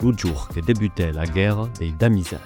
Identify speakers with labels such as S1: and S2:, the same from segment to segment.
S1: lo jour que debutèt la guèrra dei Damizèl.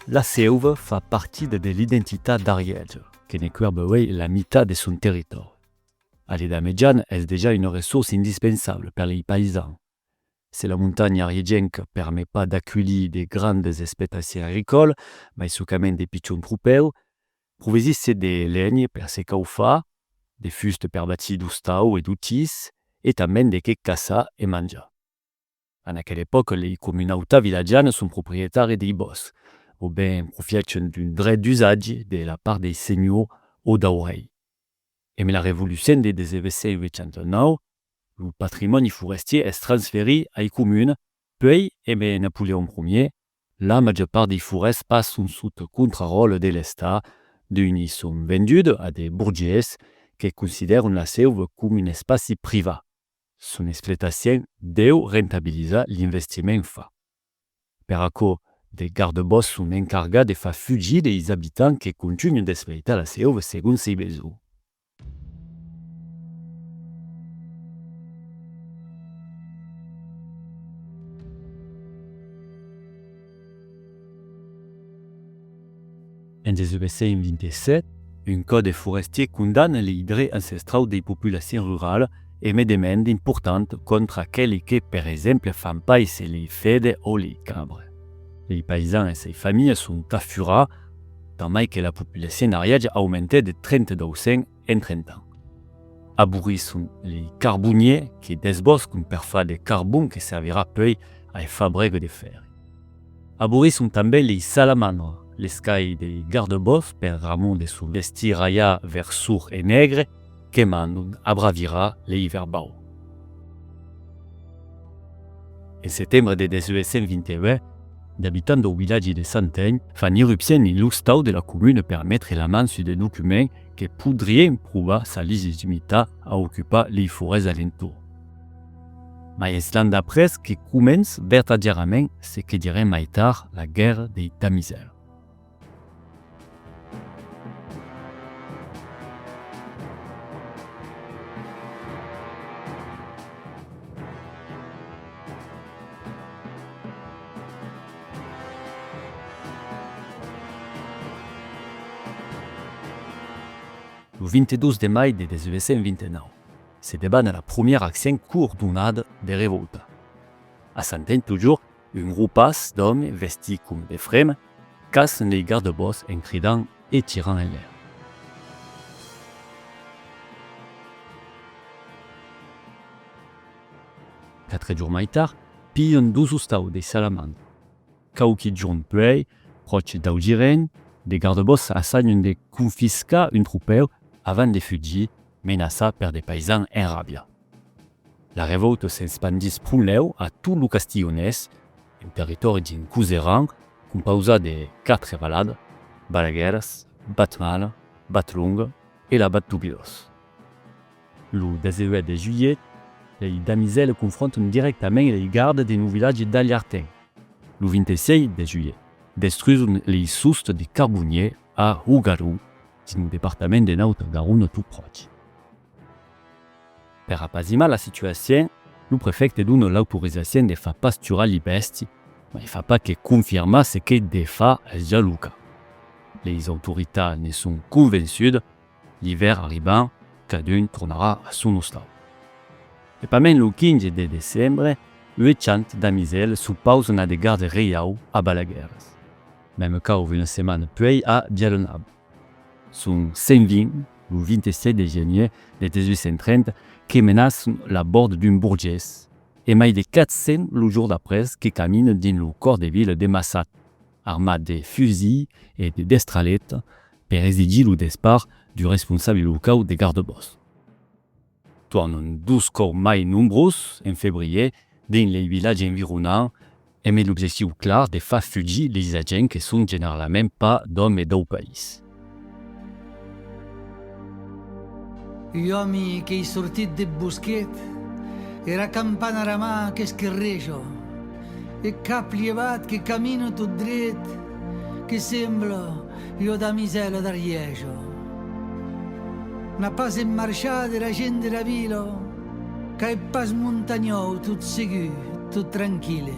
S1: La seuva fa partida de l'identitat d'Arièja, que ne cuèrba uèi la mitat de son territòri. A l'Edat Mejana es dejà una ressourça indispensabla per lei païsans, Se la montanha riegenca permet pas d'aculhir de grandes espetaciers agricòles, mai socament de pichons cropèus, provesisse de lenhe per se caufar, de fuste per batir d'ostau e d'otis e tanben de qué caçar e manjar. En aquela epòca lei comunautats vilatjanas son proprietari dei bòscs o ben profièchen d'un dret d'usatge de la part dei senhors o dau rei. Emb la revolucion de 1889, lo patrimòni forestier es transferit ai comunes, puèi emb Napoleon Ier, la màger part dei forèsts passon sot contraròtle de l'Estat, d'unes i son vendudes a de borgés que considèron la seu com un espaci privat. Son explotacion deu rentabilizar l'investiment fat. Per aquò, de gardebòscs son encargats de far fugir deis abitants que contunhen d'espreitar las hèubes segon sei besonh. En 1827, un còde forestier condamna lei drets ancestraus dei populacions ruralas e met de mènde important còntra aqueli que, per exemple, fan paisser lei fede o lei cabre. Lei paisans e sei familhas son tà furà, tant mai que la populacion ariaja aumentèt de 32 en. Entretant, aborrisson lei carboniers que desboscon per far de carbon que servirà puei ai fabrega de fèrri. Aborrisson tanben lei salamandras, les qu'ai dei gardebòsc per Ramon de son vestir aià vers sour e negre que mandon abravirar lei verbaur. En setembre de 1821, d'abitants dau vilatgi de Santeny fan irrupcion en l'ostau de la comuna per metre la man sus de documents que podrien provar sa legitimitat a ocupar lei forèsts alentorn. Mai es l'an d'après que començ vertadièrament se que direm mai tard la guèrra dei Tamizèr. Lo 22 de mai de 1829 se debana la promièra accion coordonada de revòlta. A Santen totjorn, un gropas d'òmes vestits coma de frema caçan lei gardebòs en cridant e tirant enlèr. Quatre jorns mai tard, Pijon dous ostau de Salaman. Quauqui jorn puèi, pròche dau Giren, de gardebòssa assajan de confiscar un tropèu avant de fugir, menaçat per de paisans en ràbia. La revòuta s'espandís prunlèu a tot lo Castilhonés, un territòri dins Coseran compausat de quatre valadas, Balaguèras, Batmala, Batlonga e la Bat Tubirós. Lo 18 de julhet, lei damisèle confronton dirèctament lei garde dins lo vilatge d'Alhartin. Lo 26 de julhet, destruison lei sosts de carbonier a Hougarou, dins lo departament de Nauta-Garona tot pròche. Per apazimar la situacion, lo prefècte dona l'autorizacion de far pasturar li bèsti, mai fa pas que confirmar se que de far es ja lo cas. Leis autoritats ne son convençudas L'ivèr arribant, cadun tornarà a son ostal. E pas mens lo 15 de decembre, ue chant d'amisèl suu paus n'a de garde reiau a Balaguèrs. Meme cau una setmana puèi a Bialonaba. Son 120, lo 27 de genier de 1830, que menas la bord d'un burgés, e mai de 400 lo jour d'après que caminen dins lo còr de vila de Massat. armat de fusil e de destralheta per exigir lo despart du responsable locau de gardebòsc. Tuan un dos còp mai nombrós en febrier dins lei vilatges environants emb l'objectiu clar de far fugir leis agents que son generalament pas d'òmes dau país. Uòmi qu'ei sortit deth bosquet, era campana ara mà qu'esquerré jo, eth cap lievat que camino tot dret, que semblo ua damisèla d'Ariejo. N'a pas en marchar dera gent dera vila, qu'a eth pas montanhòu tot segur, tot tranquille.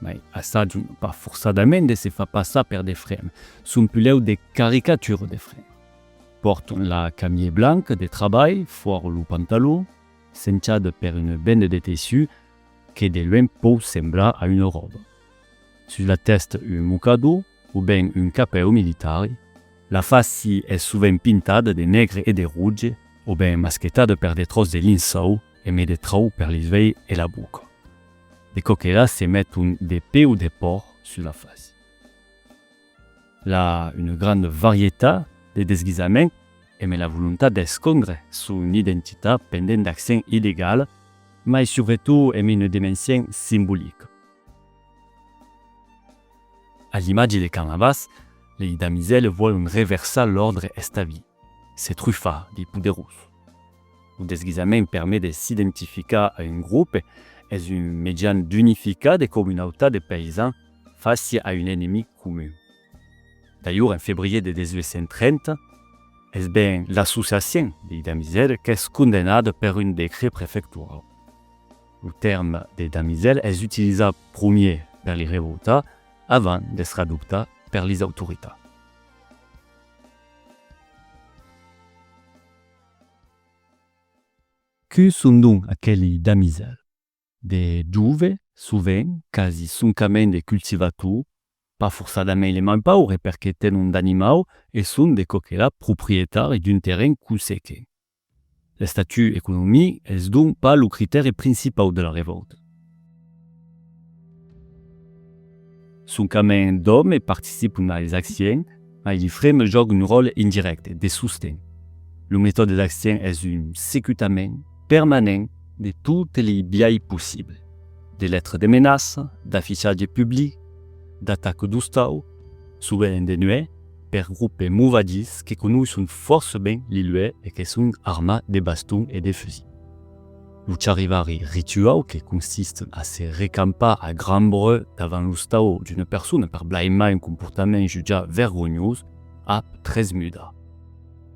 S1: Mai assajun pas forçadament de se far passar per de frens, son pulèu de caricatura de frens. Pòrton la camier blanc de trabalh fuòra lo pantalon, senchada per una benda de tessut que de luenh pòu semblar a una ròba. Sus la tèsta un mocador o ben un capèu militari. La fasi es sovent pintada de negre e de roge o ben masquetada per de tròç de linçòu e me de tròu per les uelhs e la boca. de coquelas se met un de peu de pòrc sus la fasi. La una granda varietat de desguisaments e me la volontat d'escondre son identitat pendent d'accent illegal, mai subretot e me una demencient simbolica. A l'imatge de Canavas, lei damizèles vòlon reversar l'òrdre establit, se trufar dei poderós. Lo desguisament permet de s'identificar a un grop, es un mejan d'unificar de comunautats de paysans fàcia a un enemic comun. D'ailhur, en febrier de 1830, es ben l'associacion dei damisèls qu'es condemnada per un decret prefectorau. Lo tèrme de damisèl es utilizat promier per li revoltats avant d'estre adoptat per lis autoritats. Que son donc aqueli damisèl? De jove, sovent, quasi soncament de cultivator, pas forçadament de mai paure perque tenon d'animau e son de coquelà proprietari d'un terren consequent. L'estatut economic es donc pas lo critèri principau de la revòlta. Soncament d'òmes participon a Exactien, mai li freme jòga un ròle indirècte, de sosten. Lo metòde d'Extien es un secutament permanent de totes li biais possibles, de letre de menaça, d'affichatge public, d'ataca d'ostau, sovent de nuèch, per groupes movadiss que conoisson fòrça ben li luèch e que son armats de baston e de fusil. Lo charivari rituau que consist a se recampar a grand breu davant lo stau d'una persona per blaimar un comportament jutjat vergonhós ap tres muda.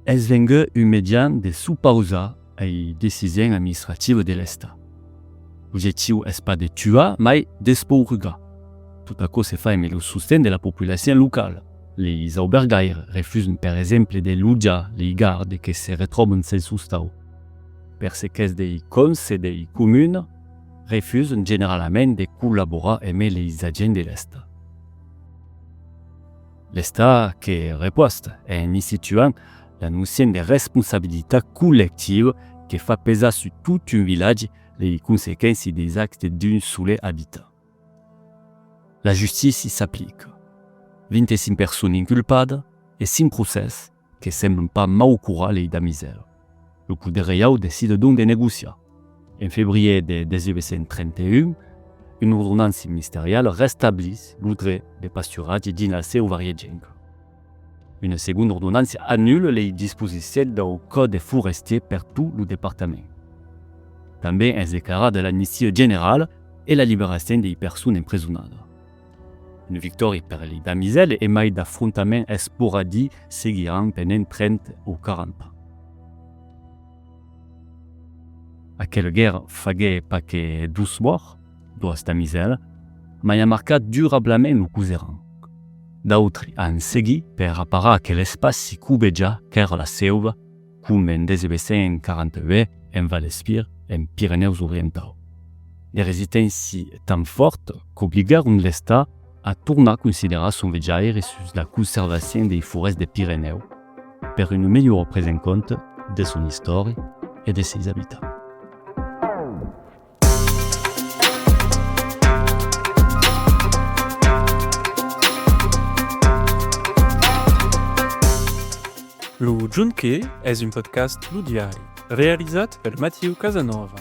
S1: Es vengut un median de s'opausar ai decision administrativa de l'Estat. L'objectiu es pas de tuar mai d'espourgar. Tot aquò se fa emé lo sosten de la populacion locala. Leis aubergaires refusan per exemple de lotjar lei gardes que se retròban sens lo stau. per ce qu'es dei conselhei comun, refusen generalament de collaborar eme leis agents de l'Estat. L'Estat que repost en instituant la nocion de responsabilitat collectiva que fa pesar sus tot un vilatge lei consequenci deis actes d'un sole abitant. La justici s'aplica. 25 personnes inculpadas e 5 procès que semblan pas mau curar lei da misèra. Lo poder reiau decide donc de negociar. En febrier de 1831, una ordonança ministeriala restablís lo dret de pasturatge dins la seu variegenca. Una segonda ordonança anula lei disposicions dau Còde forestier per tot lo departament. Tanben es declarada l'amnistia generala e la liberacion dei personas empresonada. Une victòria per li damisèle e mai d'afrontament esporadi seguiràn pendent trenta o quaranta ans. Aquela guèrra faguèt pas que dos mòrts, doas damisèlas, mai a marcat durablament lo coseran. D'autri an seguit per aparar aquel espaci cubejat qu'èra la seuva, coma en 1942 en Val Espir, en Pirenèus Orientau. De resisténcia tan fòrta qu'obligaron l'Estat a tornar considerar son vejaire sus la conservacion dei forèsts de Pirenèu per una melhora presa en compte de son istòria e de seis abitants. Lo Junqué es un podcast Lo Diari, realizat per Mathieu Casanova,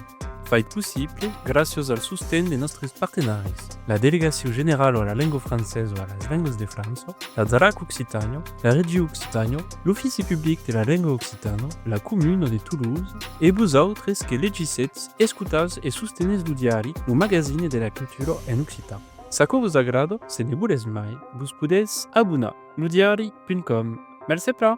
S1: fait possible gràcias al sosten de nòstres partenaris, la Delegacion Generala a la Lenga Francesa e a las Lengas de França, la Zarac Occitània, la Regiu Occitània, l'Ofici Public de la Lenga Occitana, la Comuna de Toulouse e vosautres que legissetz, escotatz e sostenètz lo diari Lo Magazine de la Cultura en occitan. S'aquò vos agrada, se ne volètz mai, vos podètz abonar. Lodiari.com Mercé plan!